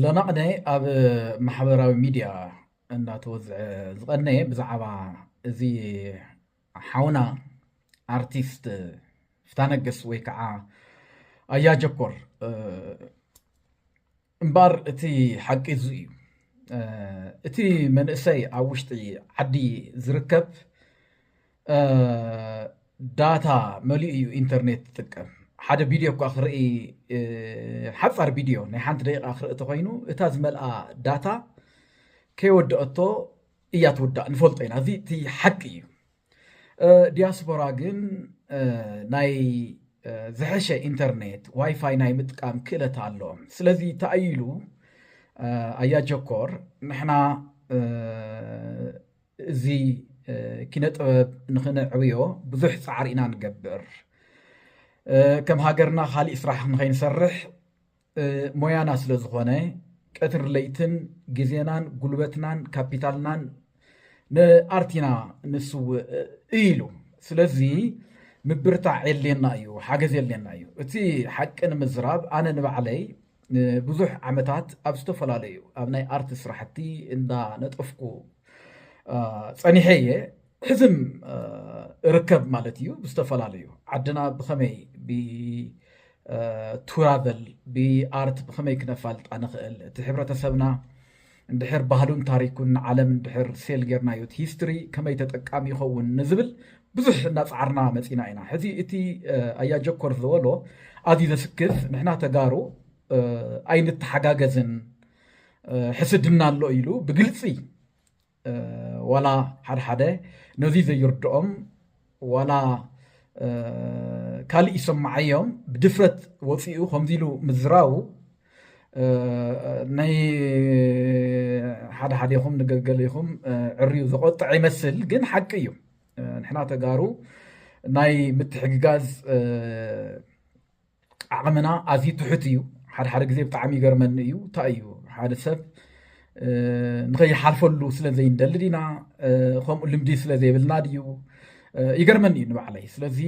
ሎናቕነ ኣብ ማሕበራዊ ሚድያ እናተወዝዐ ዝቐነየ ብዛዕባ እዚ ሓውና ኣርቲስት ፍታነግስ ወይ ከዓ ኣያጀኮር እምበር እቲ ሓቂ እዙ እዩ እቲ መንእሰይ ኣብ ውሽጢ ዓዲ ዝርከብ ዳታ መሊኡ እዩ ኢንተርኔት ትጥቀም ሓደ ቪድዮ እኳ ክርኢ ሓፃር ቪድዮ ናይ ሓንቲ ደቂቃ ክርኢ ተኮይኑ እታ ዝመልኣ ዳታ ከይወደአቶ እያ ትውዳእ ንፈልጦ ኢና እዚ እቲ ሓቂ እዩ ዲያስፖራ ግን ናይ ዝሐሸ ኢንተርኔት ዋይፋይ ናይ ምጥቃም ክእለት ኣለዎም ስለዚ ተኣይሉ ኣያ ጀኮር ንሕና እዚ ኪነ ጥበብ ንክነዕብዮ ብዙሕ ፃዕሪ ኢና ንገብር። ከም ሃገርና ካሊእ ስራሕ ንከይንሰርሕ ሞያና ስለዝኾነ ቀትር ለይትን ግዜናን ጉልበትናን ካፒታልናን ንኣርት ኢና ንስውእ ኢሉ። ስለዚ ምብርታዕ የድልየና እዩ፣ ሓገዝ የድልየና እዩ። እቲ ሓቂ ንምዝራብ ኣነ ንባዕለይ ንብዙሕ ዓመታት ኣብ ዝተፈላለዩ ኣብ ናይ ኣርት ስራሕቲ እንዳነጠፍኩ ጸኒሐ እየ ሕዝም እርከብ ማለት እዩ ብዝተፈላለዩ ዓድና ብኸመይ ብቱራቨል ብኣርት ብኸመይ ክነፋልጣ ንኽእል እቲ ሕብረተሰብና እንድሕር ባህሉን ታሪኩን ንዓለም እንድሕር ሴል ጌርናዮ እቲ ሂስትሪ ከመይ ተጠቃሚ ይኸውን ንዝብል ብዙሕ እናፀዓርና መፂና ኢና። ሕዚ እቲ ኣያ ጀኮር ዝበሎ ኣዝዩ ዘስክፍ ንሕና ተጋሩ ኣይንተሓጋገዝን ሕስድና ኣሎ ኢሉ ብግልፂ ዋላ ሓደሓደ ነዙይ ዘይርድኦም ዋላ ካልእ ይሰማዓዮም ብድፍረት ወፂኡ ከምዚ ኢሉ ምዝራቡ ናይ ሓደ ሓደኹም ንገገሌኹም ዕርዩ ዘቆጥዐ ይመስል ግን ሓቂ እዩ ንሕና ተጋሩ ናይ ምትሕግጋዝ ዓቕምና ኣዝዩ ትሑት እዩ። ሓደ ሓደ ግዜ ብጣዕሚ ይገርመኒ እዩ እንታይ እዩ ሓደ ሰብ ንኸይሓልፈሉ ስለ ዘይንደሊ ዲና ከምኡ ልምዲ ስለ ዘይብልና ድዩ ይገርመኒ እዩ ንባዕለይ ስለዚ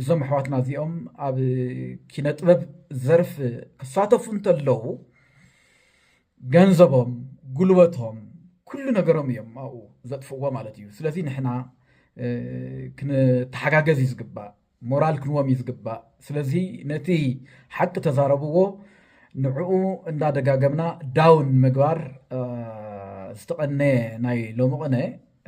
እዞም ኣሕዋትና እዚኦም ኣብ ኪነ ጥበብ ዘርፍ ክሳተፉ እንተለዉ ገንዘቦም ጉልበቶም ኩሉ ነገሮም እዮም ኣብኡ ዘጥፍዎ ማለት እዩ ስለዚ ንሕና ክንተሓጋገዝ እዩ ዝግባእ ሞራል ክንዎም እዩ ዝግባእ ስለዚ ነቲ ሓቂ ተዛረብዎ ንዕኡ እንዳደጋገምና ዳውን ምግባር ዝተቐነየ ናይ ሎሚ ቅነ